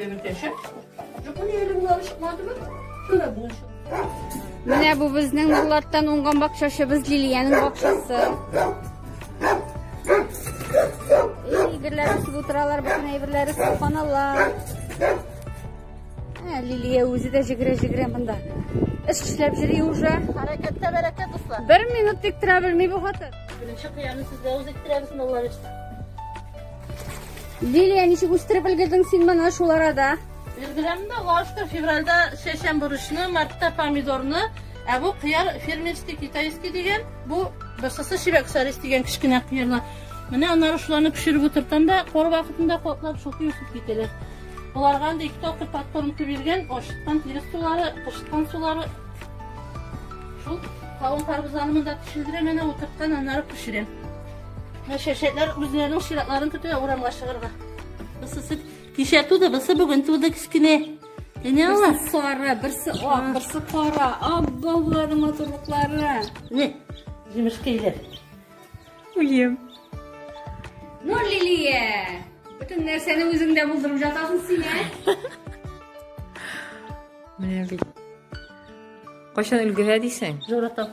Өлкәшә. Жапония елымны алып чыкмадымы? Sonra buluşalım. Менә бу безнең нурлардан уңган бакчачыбыз Лилиянең бакчасы. Әйберләр үсеп утыралар, бөтен әйберләр үсеп каналар. Ә Лилия үзе дә җигрә-җигрә монда. Эш эшләп йөри уже. Хәрәкәттә бәрәкәт дуслар. Бер минут тик тора белми бу хатын. Беренче кыяны сезгә үз иттерәбез, Аллаһ Лилия, ничек үстереп өлгердең син моны шул арада? Өлгерәм дә, лашка февральдә чәчәм бурычны, мартта помидорны, ә бу кыяр фермерский китайский дигән, бу бысысы чибәк сарис дигән кечкенә кыярлар. Менә аннары шуларны пешереп утыртам да, кор вакытында котлап шуки үсеп китәләр. Боларга анда ике тапкыр подкорм биргән, ашыткан тирес сулары, кышкан сулары. Шул кавын карбызларны монда пешердерәм, әнә утырткан, аннары пешерәм. Шәшәтләр үзләренең чиратларын көтә урамга чыгарга. Бысысы кичә туды, бысы бүген туды кечкенә. Менә ала. Берсе сары, берсе ак, берсе кара. Абба буларның матурлыклары. Не, җимешкәйләр. Уем. Ну, Лилия, бөтен нәрсәне үзеңдә булдырып жатасың син, ә? Менә бит. Кайчан өлгерә дисең? Зуратам.